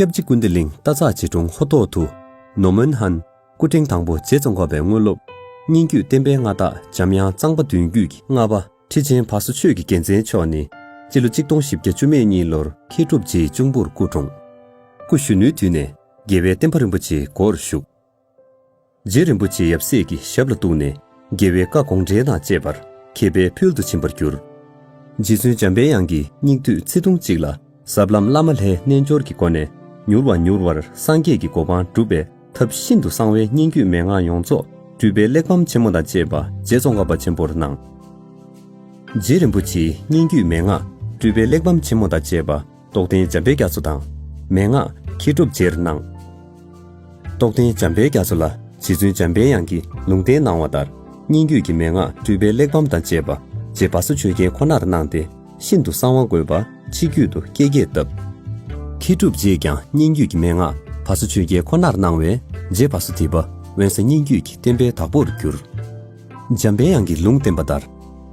སྐྱབས་རྗེ་ཀུན་བདེ་གླིང་རྟ་ཚག་རྗེ་དྲུང་ཧོ་ཐོག་ཏུ། ནོ་མོན་ཧན། སྐུ་ཕྲེང་དང་པོ་རྗེ་བཙོན་འགོག་པའི་དངོས་སློབ། སྙན་བརྒྱུད་བསྟན་པའི་མངའ་བདག་འཇམ་དབྱངས་གཙང་པ་བདུན་བརྒྱུད་ཀྱི་ལྔ་པ་ཁྲི་ཆེན་བྷ་སོ་ཆོས་ཀྱི་རྒྱལ་མཚན་མཆོག་ནི། སྤྱི་ལོ་གཅིག་སྟོང་བཞི་བརྒྱ་བཅུ་མེད་གཉིས་ལོར་མཁས་གྲུབ་རྗེའི་གཅུང་པོར་སྐུ་འཁྲུངས། སྐུ་གཞོན་ནུའི་དུས་ནས་རྒྱལ་བའི་བསྟན་པ་རིན་པོ་ཆེའི་སྒོར་ཞུགས། རྗེ་རིན་པོ་ཆེ་ཡབ་སྲས་ཀྱི་ཞབས་ལ་གཏུགས་ནས་རྒྱལ་བའི་བཀའ་དགོངས་འགྲེལ་དང་བཅས་པར་མཁས་པའི་ཕུལ་དུ་ཕྱིན་པར་གྱུར། རྗེ་བཙུན་འཇམ་དཔལ་དབྱངས་ཀྱི་སྙིགས་དུས་ཚེ་ཐུང་གཅིག་ལ་ཟབ་ལམ་བླ་མ་ལྷའི་རྣལ་འབྱོར་གྱི་སྒོ་ནས་མྱུར་བ་མྱུར་བར་སངས་རྒྱས་ཀྱི་གོ་འཕང་བསྒྲུབ་པའི་ཐབས་ཤིན་ཏུ་གསང་བའི་སྙན་བརྒྱུད་མན་ངག་ཡོངས་རྫོགས་སྤྲུལ་པའི་གླེགས་བམ་ཆེན་མོ་དང་བཅས་པ་རྗེ་ཙོང་ཁ་པ་ཆེན་པོར་གནང། རྗེ་རིན་པོ་ཆེའི་སྙན་བརྒྱུད་མན་ངག་སྤྲུལ་པའི་གླེགས་བམ་ཆེན་མོ་དང་བཅས་པ། རྟོགས་ལྡན་འཇམ་པའི་རྒྱ་མཚོ་དང། མན་ངག་མཁས་གྲུབ་རྗེར་སྣང། རྟོགས་ལྡན་འཇམ་པའི་རྒྱ་མཚོ་ལ་རྗེ་བཙུན་འཇམ་པའི་དབྱངས་ཀྱིས་ལུང་བསྟན་གནང་བ་ལྟར་སྙན་བརྒྱུད་ཀྱི་མན་ངག་སྤྲུལ་པའི་གླེགས་བམ་དང་བཅས་པ་རྗེ་བ་སོ་ཆོས་རྒྱལ་ཁོ་ནར་གནང་སྟེ་ཤིན་ཏུ་གསང་བ་འགོད་པ་ཕྱི་རྒྱུད་དུ་བཀས་རྒྱས་བཏབ། མཁས་གྲུབ་རྗེས་ཀྱང་སྙན་བརྒྱུད་ཀྱི་མན་ངག་བ་སོ་ཆོས་རྒྱལ་ཁོ་ནར་གནང་བས་རྗེ་བ་སོ་ཐི་བ་དབོན་ས་སྙན་བརྒྱུད་ཀྱི་བསྟན་པའི་བདག་པོར་གྱུར། འཇམ་པའི་དབྱངས་ཀྱིས་ལུང་བསྟན་པ་ལྟར་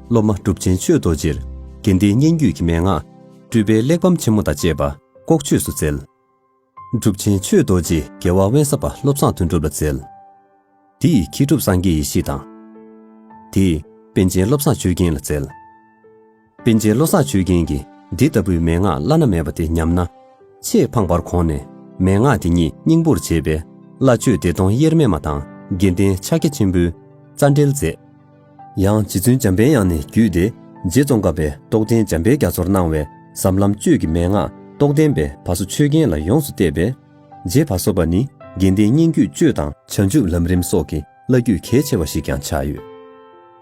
སློབ་མ་གྲུབ་ཆེན་ཆོས་རྡོ་རྗེར་དགེ་ལྡན་སྙན་བརྒྱུད་ཀྱི་མན་ངག། སྤྲུལ་པའི་གླེགས་བམ་ཆེན་མོ་དང་བཅས་པ་ལྐོག་ཆོས་སུ་བསྩལ། གྲུབ་ཆེན་ཆོས་རྡོ་རྗེ་རྒྱལ་བ་དབེན་ས་པ་བློ་བཟང་དོན་གྲུབ་ལ་བསྩལ། དེ་ཡི་ཁྱི་གྲུབ་སངས་རྒྱས་ཡེ་ཤེས་དང། དེ་ཡི་པན་ཆེན་བློ་བཟང་ཆོས་རྒྱན་ལ་བསྩལ། པན་ཆེན་བློ་བཟང་ཆོས་རྒྱན་གྱིས་འདི་ལྟ་བུའི་མན་ངག་བླ་ན་མེད་པ་དེ་ཉམས་ན། ཆེས་ཕངས་པར་གོང་ནས་མན་ངག་དེ་ཉིད་སྙིང་པོར་བྱས་པའི་བླ་མཆོད་བདེ་སྟོང་དབྱེར་མེད་མ་དང་དགེ་ལྡན་ཕྱག་རྒྱ་ཆེན་པོའི་རྩ་འགྲེལ་མཛད། ཡང་རྗེ་བཙུན་འཇམ་དཔལ་དབྱངས་ནས་བརྒྱུད་དེ་རྗེ་ཙོང་ཁ་པས་རྟོགས་ལྡན་འཇམ་དཔལ་རྒྱ་མཚོར་གནང་བའི་ཟབ་ལམ་གཅོད་ཀྱི་མན་ངག་རྟོགས་ལྡན་པའི་བ་སོ་ཆོས་རྒྱན་ལ་ཡོངས་སུ་གཏད་པས། རྗེ་བ་སོ་པ་ནི་དགེ་ལྡན་སྙན་བརྒྱུད་གཅོད་དང་བྱང་ཆུབ་ལམ་རིམ་སོགས་ཀྱི་བླ་བརྒྱུད་གལ་ཆེ་བ་ཞིག་ཀྱང་ཆགས་ཡོད།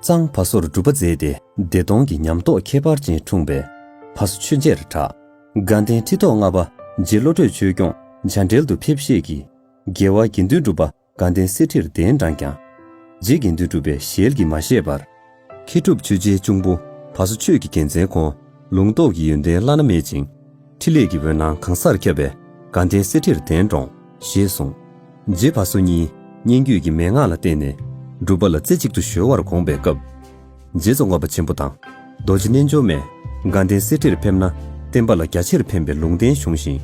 གཙང་བ་སོར་སྒྲུབ་པ་མཛད་དེ་བདེ་སྟོང་གི་ཉམས་རྟོགས་ཁྱད་པར་ཅན་འཁྲུངས་པས་བ་སོ་ཆོས་རྗེར་གྲགས། དགའ་ལྡན་ཁྲི་ཐོག་ལྔ་པ་རྗེ་བློ་གྲོས་ཆོས་སྐྱོང་མཇའ་འགྲེལ་དུ་ཕེབས་བཤད་ཀྱིས། རྒྱལ་བ་དགེ་འདུན་གྲུབ་པ་དགའ་ལྡན་གསེར་ཁྲིར་གདན་དྲངས་ཀྱང། རྗེས་ཀྱི་འདུས་གྲུབ་པའི་ཞལ་གྱིས་མ་བཞེས་པར། མཁས་གྲུབ་ཆོས་རྗེའི་གཅུང་པོ་བ་སོ་ཆོས་ཀྱི་རྒྱལ་མཚན་ཁོང་ལུང་རྟོགས་ཀྱི་ཡོན་ཏན་བླ་ན་མེད་ཅིང། ཕྲིན་ལས་ཀྱི་འོད་སྣང་གང་སར་ཁྱབ་པས་དགའ་ལྡན་གསེར་ཁྲིར་གདན་དྲོངས། ཞེས་གསུངས། རྗེ་བ་སོ་གཉིས་སྙན་བརྒྱུད་ཀྱི་མན་ངག་ལ་བརྟེན་ནས། སྒྲུབ་པ་ལ་རྩེ་གཅིག་ཏུ་གཞོལ་བར་དགོངས་པའི་སྐབས། རྗེ་བཙུན་དབང་བ་ཆེན་པོ་དང། རྡོ་རྗེ་རྣལ་འབྱོར་མས། དགའ་ལྡན་གསེར་ཁྲིར་ཕེབས་ན། བསྟན་པ་ལ་རྒྱ་ཆེར་ཕན་པའི་ལུང་བསྟན་གཞུང་བཞིན།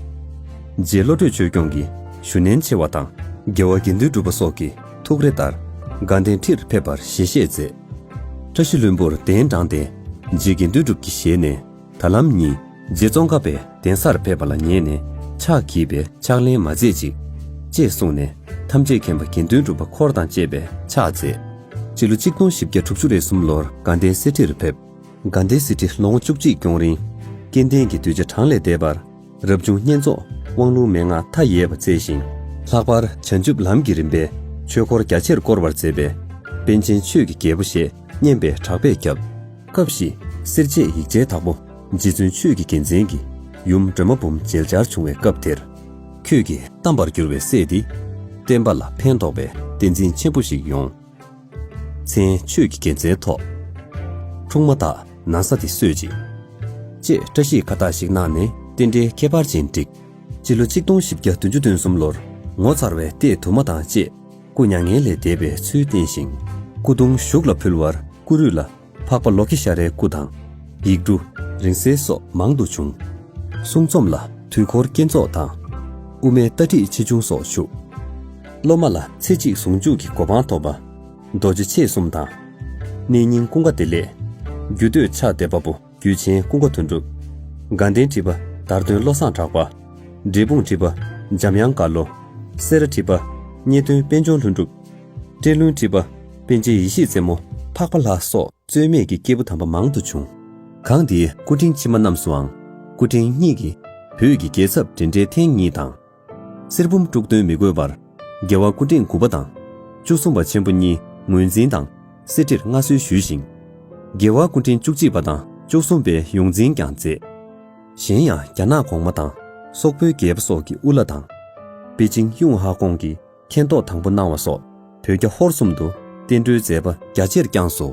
རྗེ་བློ་གྲོས་ཆོས་སྐྱོང་གིས་ཞུ་ནན་ཆེ་བ་དང། རྒྱལ་བ་དགེ་འདུན་གྲུབ་པ་སོགས་ཀྱི་ཐུགས་རེ་ལྟར། དགའ་ལྡན་ཁྲིར་ཕེབས་པར་ཞལ་བཞེས་མཛད། བཀྲ་ཤིས་ལྷུན་པོར་གདན་དྲངས་ཏེ། རྗེ་དགེ་འདུན་གྲུབ་ཀྱི་ཞལ་ནས། ད་ལམ་ཉིན་རྗེ་ཙོང་ཁ་པས་གདན་སར་ཕེབས་པ་ལ་ཉན་ནས་ཕྱག་གིས་པའི་ཕྱག་ལེན་མ་མཛད་ཅིག། ཅེས་གསུངས་ནས་ཐམས་ཅད་མཁྱེན་པ་དགེ་འདུན་གྲུབ་པ་འཁོར་དང་བཅས་པས་ཕྱག་མཛད། སྤྱི་ལོ་ཆིག་སྟོང་བཞི་བརྒྱ་དྲུག་ཅུ་རེ་གསུམ་ལོར་དགའ་ལྡན་གསེར་ཁྲིར་ཕེབས། དགའ་ལྡན་གསེར་ཁྲི་ལོ་ངོ་བཅུ་གཅིག་སྐྱོང་རིང། སྐལ་ལྡན་གྱི་གདུལ་བྱ་གྲངས་ལས་འདས་པར་རབ་བྱུང་བསྙེན་རྫོགས་དབང་ལུང་མན་ངག་མཐའ་ཡས་པ་བསྩལ་ཞིང། ལྷག་པར་བྱང་ཆུབ་ལམ་གྱི་རིམ་པའི་ཆོས་འཁོར་རྒྱ་ཆེར་བསྐོར་བར་མཛད་པས། དཔལ་ཆེན་ཆོས་ཀྱི་རྒྱལ་པོ་ཞེས་སྙན་པའི་གྲགས་པས་ཁྱབ། སྐབས་ཤིག་གསེར་བྱེས་ཡིག་ཆའི་དྭགས་པོ་རྗེ་བཙུན་ཆོས་ཀྱི་རྒྱལ་མཚན་གྱི་ཡུམ་སྒྲོལ་མ་འབུམ་མཇལ་བཅར་བྱུང་བའི་སྐབས་དེར། ཁྱོད་ཀྱིས་གཏམས་པར་གྱུར་བའི་སྲས་འདི། བསྟན་པ་ལ་ཕན་ཐོགས་པའི་བསྟན་འཛིན་ཆེན་པོ་ཞིག་ཡོང། མཚན་ཆོས་ཀྱི་རྒྱལ་མཚན་ཐོགས། འཁྲུངས་མ་དག་ན་ས་དེ་སོད་ཅིག། ཅེས་བཀྲ་ཤིས་ཁ་བཏགས་ཤིག་གནང་ནས་རྟེན་འབྲེལ་ཁྱད་པར་ཅན་བསྒྲིགས། སྤྱི་ལོ་ཆིག་སྟོང་བཞི་བརྒྱ་བདུན་ཅུ་དོན་གསུམ་ལོར་ངོ་མཚར་བའི་ལྟས་དུ་མ་དང་བཅས་སྐུ་མྱ་ངན་ལས་འདས་པའི་ཚུལ་བསྟན་ཞིང། སྐུ་གདུང་ཞུགས་ལ་ཕུལ་བར་སྐུ་རུས་ལ་འཕགས་པ་ལོ་ཀེ་ཤ་རའི་སྐུ་དང། ཡིག་འབྲུ། རིང་བསྲེལ་སོགས་མང་དུ་བྱུང། གསུང་རྩོམ་ལ་དུས་འཁོར་བསྐྱེད་རྫོགས་དང། དབུ་མའི་ལྟ་ཁྲིད་ཆེ་ཆུང་སོགས་བཞུགས། སློབ་མ་ལ་ཚེ་གཅིག་ཟུང་འཇུག་གི་གོ་འཕང་ཐོབ་པ། རྡོ་རྗེ་མཆེད་གསུམ་དང། གནས་རྙིང་ཀུན་དགའ་བདེ་ལེགས། རྒྱུད་སྟོད་ཕྱག་བདེ་དཔའ་བོ་རྒྱུད་ཆེན་ཀུན་དགའ་དོན་གྲུབ། དགའ་ལྡན་ཁྲི་པ་དར་སྟོན་བློ་བཟང་གྲགས་པ། འབྲས་སྤུངས་ཁྲི་པ་འཇམ་དབྱངས་དཀར་ལོ། སེ་ར་ཁྲི་པ། རྙེད་སྟོན་པད་འབྱུང་ལྷུན་གྲུབ། སྤྲེལ་ལུང་སྤྲིས་པ། དཔལ་ཆེན་ཡེ་ཤེས་རྩེ་མོ། འཕགས་པ་ལྷ་སོགས་རྩོལ་མེད་ཀྱི་སྐྱེས་བུ་དམ་པ་མང་དུ་བྱུང། གང་དེའི་སྐུ་ཕྲེང་ཕྱི་མ་རྣམས་སུའང། སྐུ་ཕྲེང་གཉིས་ཀྱིས་བོད་ཀྱི་རྒྱལ་ཚབ་འདྲེན་འབྲེལ་ཐེངས་གཉིས་དང། གསེར་བུམ་དཀྲུག་འདོན་མི་དགོས་པར། རྒྱལ་བ་སྐུ་ཕྲེང་དགུ་པ་དང། བཅུ་གསུམ་པ་ཆེན་པོ་གཉིས་ངོས་འཛིན་དང་གསེར་ཁྲིར་མངའ་གསོལ་ཞུས་ཤིང། རྒྱལ་བ་སྐུ་ཕྲེང་བཅུ་གཅིག་པ་དང་བཅུ་གསུམ་པའི་ཡོངས་འཛིན་ཀྱང་མཛད། གཞན་ཡང་རྒྱ་ནག་གོང་མ་དང་སོག་པོའི་རྒྱལ་པོ་སོགས་ཀྱི་དབུ་བླ་དང། པེ་ཅིང་ཡུང་ཧྭ་ཀོང་གི་མཁྱེན་རྟོགས་དང་པོ་གནང་བ་སོགས་བོད་རྒྱ་ཧོར་གསུམ་དུ་བསྟན་འགྲོའི་མཛད་པ་རྒྱ་ཆེར་བསྐྱངས་སོ།